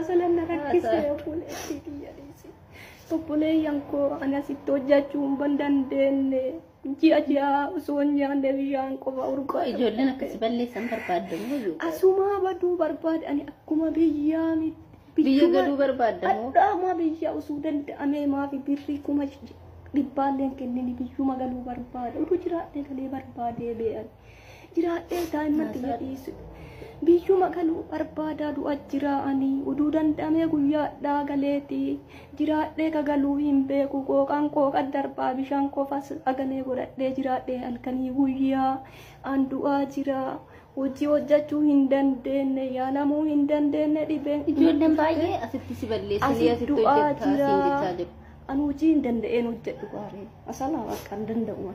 Asalan na rakkise obboleettii tiyya dhiise. Obboleeyyan koo ani asitti hojjechuu hin dandeenye. Ji'a ji'a osoo hin nyaanne bishaan qofa urgaa. Ijoolleen akkasi balleessan barbaadda moo iyyuu? Asumaa baduu barbaade ani akkuma biyyaa miti. Biyya galuu barbaadda moo? Adhaamaa biyya osoo danda'amee maafi birrii kuma dhibbaanleen kennini biyyuma galuu barbaade. Utuu jiraadhee galee barbaadee bee'an. jiraadhee daa'imman xiyya dhiisu biyyuma galuu barbaadaa du'a jiraa'anii uduu danda'amee guyyaadhaa galeeti jiraadhee kagaluu hin beeku qooqaan qooqa darbaa bishaan qofas agalee godhadhee jiraadhee halkanii guyyaa an du'aa jira hojii hojjechuu hin dandeenye yaalamuu hin dandeenye dhibeen Ijoolleen baay'ee asitti si balleessanii Asi asitti du'aa hojjettaa siin jechaa jira. jiru. an hojii hin danda'een hojjedhu gaaree asalaa bakka hin danda'u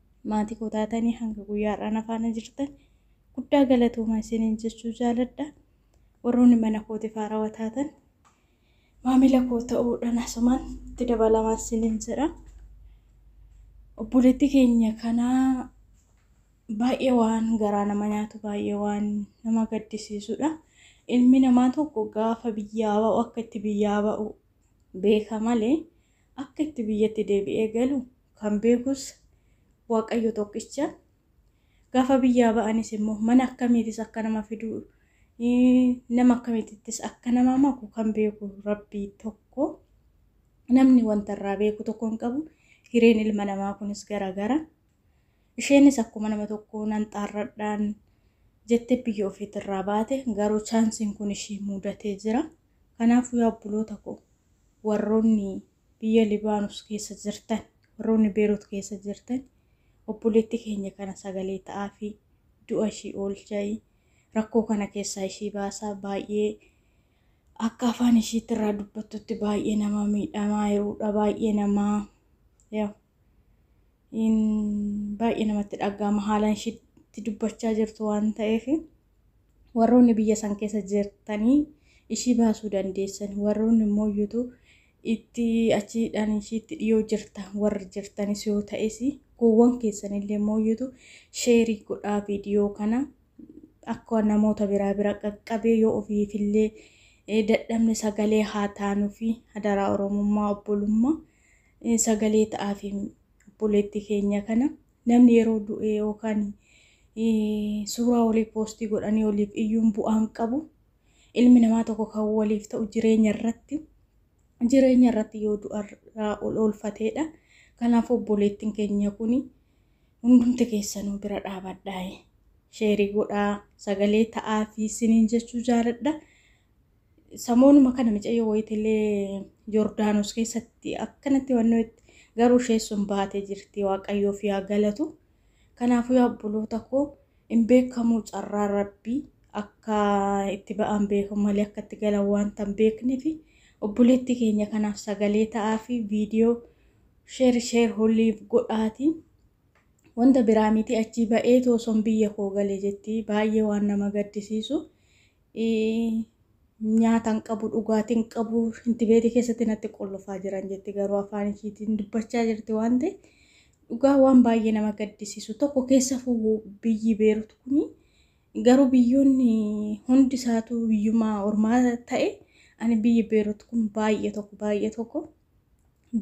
maatii koo taatanii hanga guyyaa har'aa na faana jirtan guddaa galatooma isiniin jechuu jaaladha. Warroonni mana kootiif haarawa taatan maamila koo ta'uudhaan asumaan itti dabalamaa isiniin jedha. Obboleetti keenya kanaa baay'ee waan garaa nama nyaatu baay'ee waan nama gaddisiisudha. Ilmi namaa tokko gaafa biyyaa ba'u akka itti biyyaa ba'u beeka malee akka itti biyyatti deebi'ee galu kan beekus Waaqayyo tokkicha. Gaafa biyyaa ba'anis immoo mana akkamiitis akka nama fiduu nama akkamiitittis akka nama maku kan beeku rabbii tokko namni wanta irraa beeku tokko hin qabu hireen ilma namaa kunis garagara isheenis akkuma nama tokko nan xaarradhaan jettee biyya ofiitirraa baate garuu chaansiin kun ishee muudatee jira kanaafuu yaa obboloota koo warroonni biyya Libaanus keessa jirtan, warroonni Beerut keessa jirtan obboleetti keenya kana sagalee ta'aafi, du'a ishii oolchaayi, rakkoo kana keessaa ishii baasaa, baay'ee akka afaan ishiitti irraa dubbattutti baay'ee nama miidhamaa jiruudha, baay'ee nama baay'ee namatti dhaga'ama haalaan ishiitti dubbachaa jirtu waan ta'eef warroonni biyya san keessa jirtanii ishii baasuu dandeessan warroonni immoo iyyutu itti achiidhaan ishiitti dhiyoo jirta warri jirtanis yoo ta'es gowwan keessanillee immoo iyyutu sheerii godhaa viidiyoo kana akka namoota biraa bira qaqqabee yoo ofiifillee dadhabne sagalee haa taanuufi hadaraa oromummaa obbolummaa sagalee ta'aafi obboleetti keenya kana namni yeroo du'e yookaan suuraa walii poostii godhanii waliif iyyuun bu'aan qabu ilmi namaa tokko kan waliif ta'u jireenya irratti jireenya irratti yoo du'arraa ol oolfateedha kanaaf obboleettiin keenya kun hundumti keessanuu bira dhaabadhaa sheerii godhaa sagalee ta'aafi isiniin jechuu jaaladha. Samoonuma kana micayyoo wayitillee Yordaanos keessatti akkanatti wannoetti garuu ishee sun baatee jirti waaqayyoof yaa galatu. Kanaafuu yaa obboloota koo hin beekamuu carraa rabbii akka itti ba'an beekan malee akka itti galan wanta hin beekneef obboleettii keenya kanaaf sagalee ta'aa fi viidiyoo sheer sheer holiif godhaati. Wanta biraa miti achii ba'eetu osoon biyya koo gale jetti baay'ee waan nama gaddisiisu. Nyaata hin qabu, dhugaatii hin qabu, shinti beetii keessatti natti qollofaa jiran jetti garuu afaan ishiitiin dubbachaa jirti waan ta'e dhugaa waan baay'ee nama gaddisiisu tokko keessa fugu biyyi beerut kuni garuu biyyoonni hundi isaatu biyyumaa ormaa ta'e ani biyyi beerut kun baay'ee tokko baay'ee tokko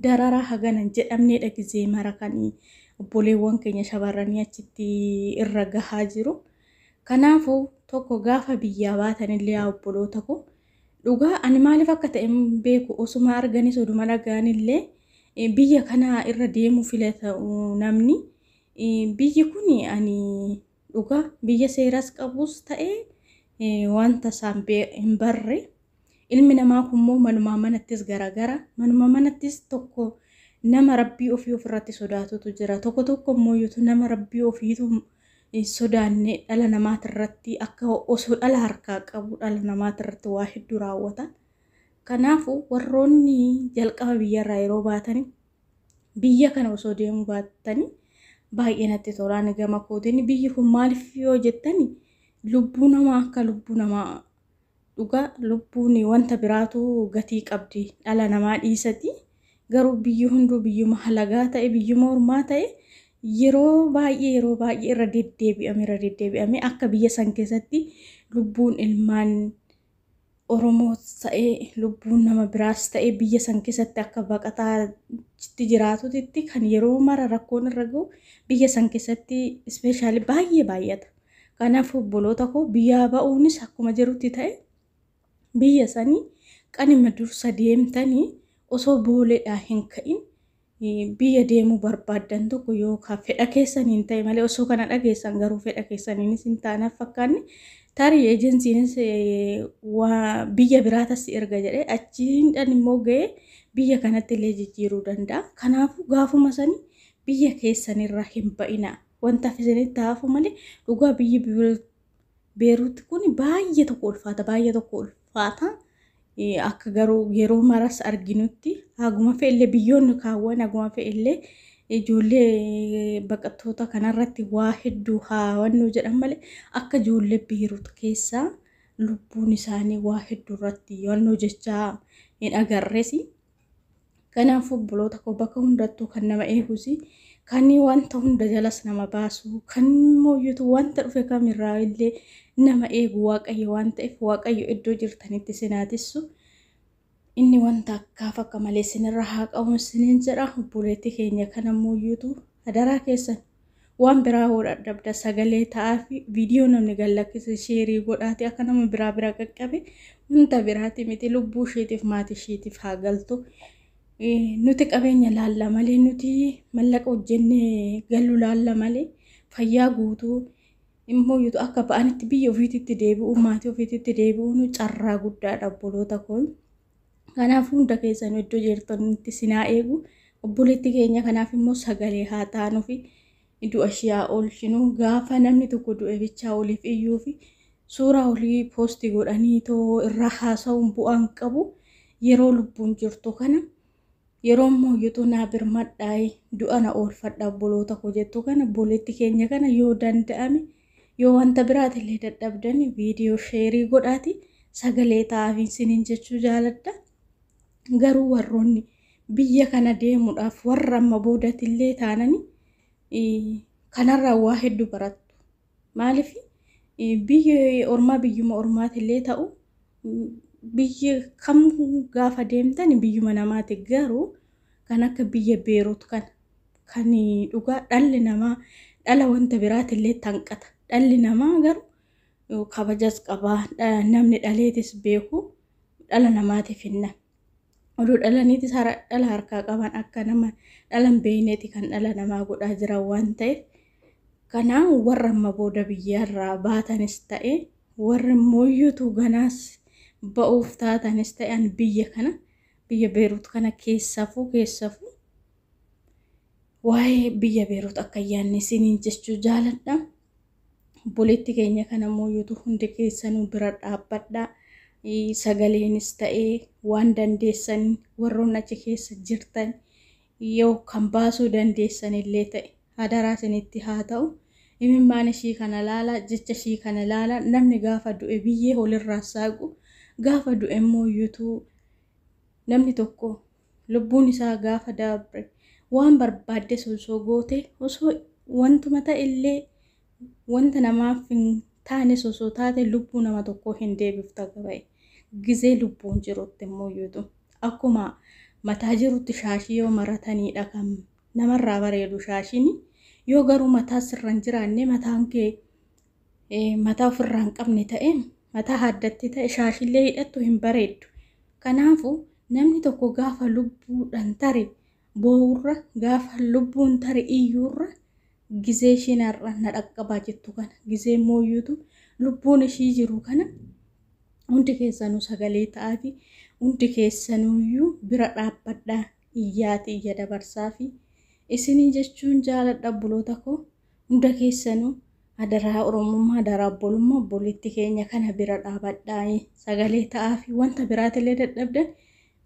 dararaa hagana hin jedhamneedha gizee mara kan obboleewwan keenya shamarranii achitti irra gahaa jiru. Kanaafuu tokko gaafa biyyaa baatanillee yaa obboloota koo dhugaa ani maaliif akka ta'e hin beeku osuma arganis oduma dhagaanillee eh, biyya kana irra deemuu filata uh, namni Eh, biyyi kun ani Dhugaa biyya seeras qabuus ta'e wanta isaan hin barre ilmi namaa kunmoo manumaa manattis garagara manuma manattis tokko nama rabbii ofii ofirratti sodaatutu jira tokko tokko immoo nama rabbii ofiitu sodaanne dhala namaatirratti akka osoo dhala harkaa qabu dhala namaatirratti waa hedduu raawwata. Kanaafuu warroonni jalqaba biyyarraa yeroo baatanii biyya kana osoo deemuu baattani baay'ee natti tolaan gama kootiin biyyi kun maaliif yoo jettani lubbuu namaa akka lubbuu namaa dhugaa lubbuun wanta biraatu gatii qabdi dhala namaa dhiisati garuu biyyi hunduu biyyuma halagaa ta'e biyyuma ormaa ta'e yeroo baay'ee yeroo baay'ee irra deddeebi'ame irra deddeebi'ame akka biyya san keessatti lubbuun ilmaan Oromoos ta'ee lubbuun nama biraas ta'ee biyya san keessatti akka baqataa tti jiraatutitti kan yeroo mara rakkoon irra gahu biyya san keessatti ispeeshaalii baay'ee baay'ata. Kanaaf obboloota koo biyyaa ba'uunis akkuma jirutti ta'e biyya sanii qanima dursa deemtanii osoo booleedhaa hin ka'in biyya deemuu barbaaddan tokko yoo ka fedha keessaniin ta'e malee osoo kana dhageessan garuu fedha keessaniinis hin taanaaf fakkaanne tarii ejensiinis biyya biraa tassi erga jedhe achiindhan immoo ga'ee biyya kanatti illee jijjiiruu danda'a. Kanaafuu gaafuma sanii biyya keessanirra hin ba'ina. Wanta isinitti hafu malee dhugaa biyyi Beeruutti kun baay'ee tokko ulfaata baay'ee tokko ulfaata. faata. Akka garuu yeroo maras arginutti haguma fe'ellee biyyoonni kaawwan haguma fe'ellee ijoollee baqattoota kanarratti waa hedduu haawannuu jedhan malee akka ijoollee biirut keessaa lubbuun isaanii waa hedduu irratti yohannoo jechaa hin agarresi. Kanaafuu obboloota koo bakka hundattuu kan nama eegusi kan wanta hunda jalas nama baasu kan mooyyutu wanta dhufe kamirraa illee nama eegu waaqayyo waan ta'eef waaqayyo iddoo jirtanitti sinaatissu inni wanta akkaaf akka malee sinirra haa qabu sinin jedha obboleetti keenya kana mooyyutu adaraa keessan Waan biraa hoo dhadhabda sagalee ta'aafi viidiyoo namni gad lakkise sheerii godhaati akka nama biraa bira qaqqabe wanta biraati miti lubbuu isheetiif maatii isheetiif haa galtu. Nuti qabeenya laalla malee nuti mallaqa hojjennee gallu laalla malee fayyaa guutuu immoo yuutu akka ba'anitti biyya ofiititti deebi'u maatii ofiititti deebi'uun carraa guddaadha obboloota kun. Kanaaf hunda keessan iddoo jirtanitti isin haa eegu. Obboleetti keenya kanaaf immoo sagalee haa taanuufi du'a ishii haa oolchinu. Gaafa namni tokko du'e bichaa oliif iyyuufi suuraa olii poostii godhanii too irraa haasa'uun bu'aan qabu yeroo lubbuun jirtu kana Yeroo immoo yutu naa birmadhaayi du'a na oolfadha obboloota koo jettu kana boleetti keenya kana yoo danda'ame yoo wanta biraati illee dadhabdani viidiyoo sheerii godhaati sagalee ta'aafiin sinin jechuu jaaladha garuu warroonni biyya kana deemuudhaaf warra amma boodati illee taanani kanarraa waa hedduu barattu Maaliif biyyi ormaa biyyuma ormaatillee ta'u biyyi kam gaafa deemtan biyyuma namaati garuu kan akka biyya beerut kan kan dhugaa dhalli namaa dhala wanta biraatillee tanqata dhalli namaa garuu kabajas qabaa namni dhaleetis beeku dhala namaatiif hinna oduu dhalaniitis hara dhala harkaa qaban akka nama dhalan beeyneeti kan dhala namaa godhaa jiran waan ta'eef kanaa warra amma booda biyyaarraa baatanis ta'e warri mooyyuutu ganaas ba'uuf taatanis ta'e an biyya kana biyya beeruut kana keessafuu keessafuu waa'ee biyya beeruut akka yaanne isiniin jechuu jaaladha Obboleetti keenya kana mooyutu hundi keessanuu bira dhaabbadha. Sagaleenis ta'ee waan dandeessan warroon achi keessa jirtan yoo kan baasuu dandeessan illee ta'e hadaraa isinitti haa ta'u. Imimmaan ishii kana laala, jecha ishii kana laala. Namni gaafa du'e biyyee holirraa saaqu, gaafa du'e immoo yuutuu namni tokko Lubbuun isaa gaafa dabre waan barbaaddes osoo goote, osoo wantuma ta'ellee wanta namaaf hin taanes osoo taate lubbuu nama tokkoo hin deebiftu haga baye. Gizee lubbuun jirutti immuuyyuutu akkuma mataa jirutti shaashii yoo marataniidha kan namarraa bareedu shaashiin. Yoo garuu mataa sirra hin jiraanne mataan kee mataa ofirraa hin qabne ta'e mataa haaddattee ta'e shaashillee hidhattu hin bareeddu. Kanaafuu namni tokko gaafa lubbuudhaan tare boo'urra gaafa lubbuun tare iyyuurra gizee ishiin har'a na dhaqqabaa jettu kana gizee mooyyuutu lubbuun ishii jiru kana hundi keessanuu sagalee ta'aati hundi keessanuuyyuu bira dhaabbadhaa iyyaati iyya dabarsaafi isinii jechuun jaaladha buloota koo. Hunda keessanu adaraa oromummaa adaraa obbolummaa obboleetti keenya kana bira dhaabadhaa sagalee ta'aafi wanta biraatillee dadhabdan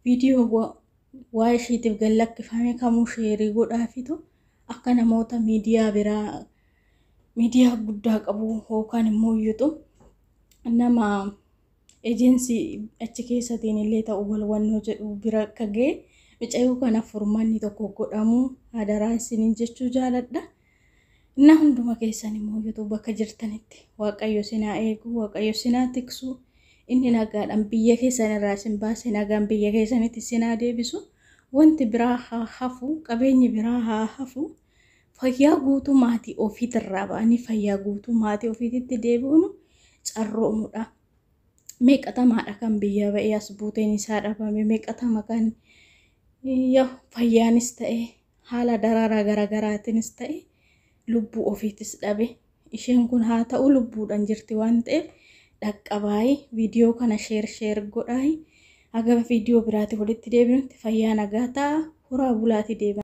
viidiyoo wa- waa ishiitiif gad lakkifame kamuu sheerii godhaafitu akka namoota miidiyaa biraa miidiyaa guddaa qabu yookaan immoo yuuxu nama Ejensi achi keessatiin illee ta'u wal hubannoo jedhu bira akka ga'e micayoo kana furmanni tokko godhamu hadaraa isinin jechuu jaaladha. Innaa hunduma keessan immoo youtube bakka jirtanitti waaqayyo sinaa eegu waaqayyo sinaa tiksu inni nagaadhaan biyya keessan irraa isin baase nagaan biyya keessanitti sinaa deebisu wanti biraa haa hafu qabeenyi biraa haa hafu Fayyaa guutuu maatii ofiitirraa ba'anii fayyaa guutuu maatii ofiititti deebi'uun carroomudha. Meeqatamaadha kan biyya ba'ee as buuteen isaa dhabame meeqatama kan yoo fayyaanis ta'e haala daraaraa garaagaraatiinis ta'e lubbuu ofiitis dhabe Isheen kun haa ta'u lubbuudhan jirti waan ta'eef dhaqqabaayi viidiyoo kana sheer sheer godhaayi haga viidiyoo biraati walitti deebinutti fayyaa nagaa ta'a horaa bulaati deebi'a.